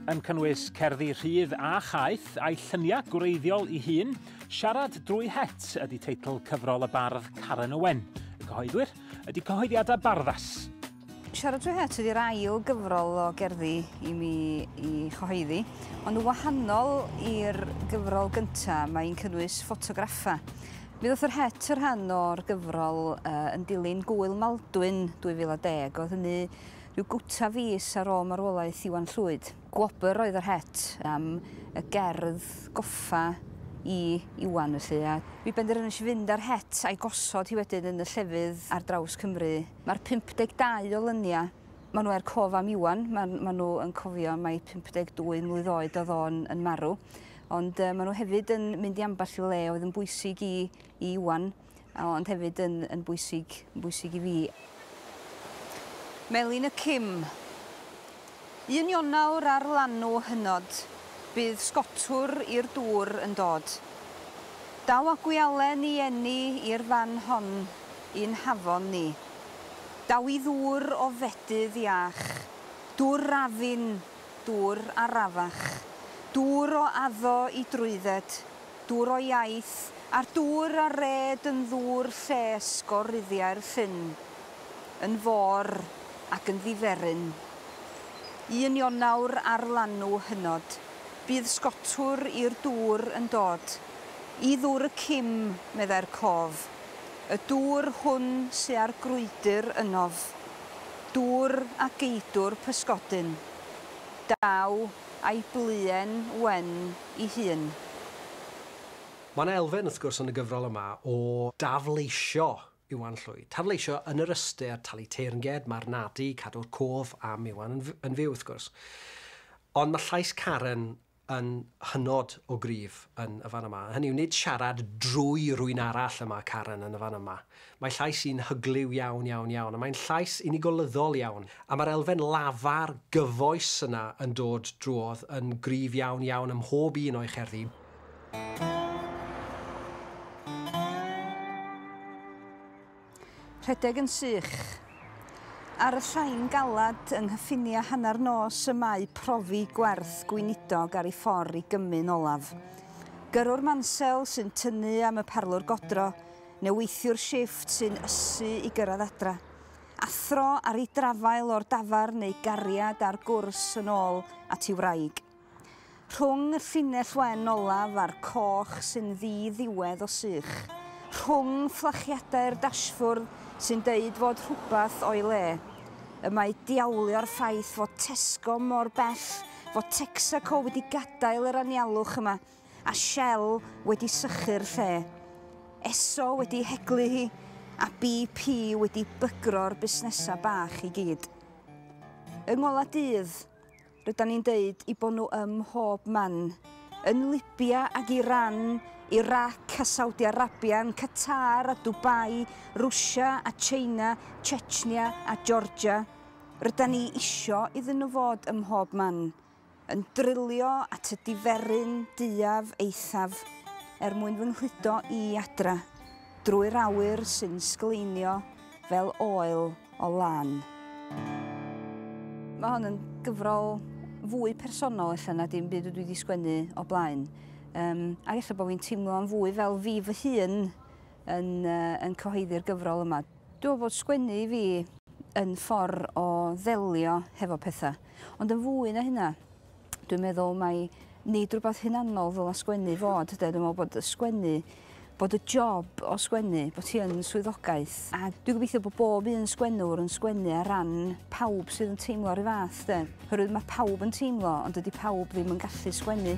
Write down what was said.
yn cynnwys cerddi rhydd a chaeth, a'i lluniau gwreiddiol i hun, Siarad drwy het ydy teitl cyfrol y bardd Karen Owen. Y cyhoeddwyr ydy cyhoeddiadau barddas. Siarad drwy het ydy'r ail gyfrol o gerddi i mi i chyhoeddi, ond yn wahanol i'r gyfrol gyntaf, mae'n cynnwys ffotograffau. Mi ddoth yr het yr rhan o'r gyfrol uh, yn dilyn Gwyl Maldwyn 2010. Oedd hynny Rhyw gwta fis ar ôl marwolaeth Iwan Llwyd. Gwobr oedd yr het am y gerdd goffa i Iwan felly a. Mi benderfynais i fynd â'r het a'i gosod hi wedyn yn y llefydd ar draws Cymru. Mae'r 52 o lyniau, maen nhw er cof am Iwan, maen maen nhw yn cofio mai 52 mlwydd oed oedd o'n yn marw, ond yy maen nhw hefyd yn mynd i ambell i le oedd yn bwysig i i Iwan. a ond hefyd yn yn bwysig yn bwysig i fi. Melin y Cim. Un Ionawr ar lanw hynod, bydd sgotwr i'r dŵr yn dod. Daw a gwialen i eni i'r fan hon i'n hafon ni. Daw i ddŵr o fedydd iach, dŵr rafin, dŵr arafach, dŵr o addo i drwydded, Dŵr o iaith, a'r dŵr a red yn ddŵr lles go ruddiau'r llyn, yn fôr ac yn ddiferyn. Un Ionawr ar lanw hynod, bydd sgotwr i'r dŵr yn dod, i ddŵr y cim, meddai'r cof, y dŵr hwn sy â'r grwydr ynof, dŵr a geidwr pysgodyn. Daw. a'i bluen wen i hun. Mae yna elfen, wrth gwrs, yn y gyfrol yma o dafleisio Iwan Llwyd. Tafleisio yn yr ystyr talu teyrnged, marnadu, cadw'r cof am Iwan yn fyw, wrth gwrs. Ond mae llais Karen yn hynod o gryf yn y fan yma. Hynny yw, nid siarad drwy rywun arall y mae Karen yn y fan yma. Mae llais hi'n hyglyw iawn, iawn, iawn, a mae'n llais unigolyddol iawn, a mae'r elfen lafar gyfoes yna yn dod drwodd yn gryf iawn, iawn ym mhob un o'i cherddi. Rhedeg yn sych. Ar y llain galed yng nghyffiniau hanner nos y mae profi gwerth gweinidog ar ei ffordd i gymmu'n olaf. Gyrrwr Mansel sy'n tynnu am y parlwr godro, neu weithiwr shifft sy'n ysu i gyrraedd adra. Athro ar ei drafael o'r dafarn neu gariad ar gwrs yn ôl at ei wraig. Rhwng y llinell wen olaf a'r coch sy'n ddi-ddiwedd o sych. Rhwng fflachiadau'r dashfwrdd sy'n deud fod rhywbeth o'i le. Y mae diawlio'r ffaith fod Tesco mor bell fod Texaco wedi gadael yr anialwch yma. a Shell wedi sychu'r lle, Esso wedi heglu hi a BP wedi bygro'r busnesau bach i gyd. Yng ngolau dydd, rydan ni'n deud i bod nhw ym mhob man, yn Libya ac Iran, Irac a Saudi Arabia, yn Qatar a Dubai, Rwsia a China, Chechnya a Georgia. Rydan ni isio iddyn nhw fod ym mhob man. Yn drilio at y diferyn duaf eithaf er mwyn fy nghludo i adra drwy'r awyr sy'n sgleinio fel oel o lân. Mae hon yn gyfrol fwy personol ella na dim byd dwi wedi sgwennu o blaen. Um, ac ella bod fi'n teimlo am fwy fel fi fy hun yn, uh, yn cyhoeddi'r gyfrol yma. Dwi'n fod sgwennu i fi yn ffordd o ddelio hefo pethau. Ond yn fwy na hynna dwi'n meddwl mai nid rhywbeth hunanol ddyla sgwennu fod 'de dwi me'wl bod y sgwennu bod y job o sgwennu bo' ti yn swyddogaeth a dwi gobeithio bo' bob un sgwennwr yn sgwennu ar ran pawb sydd yn teimlo 'r un fath 'de. Oherwydd ma' pawb yn teimlo ond dydi pawb ddim yn gallu sgwennu.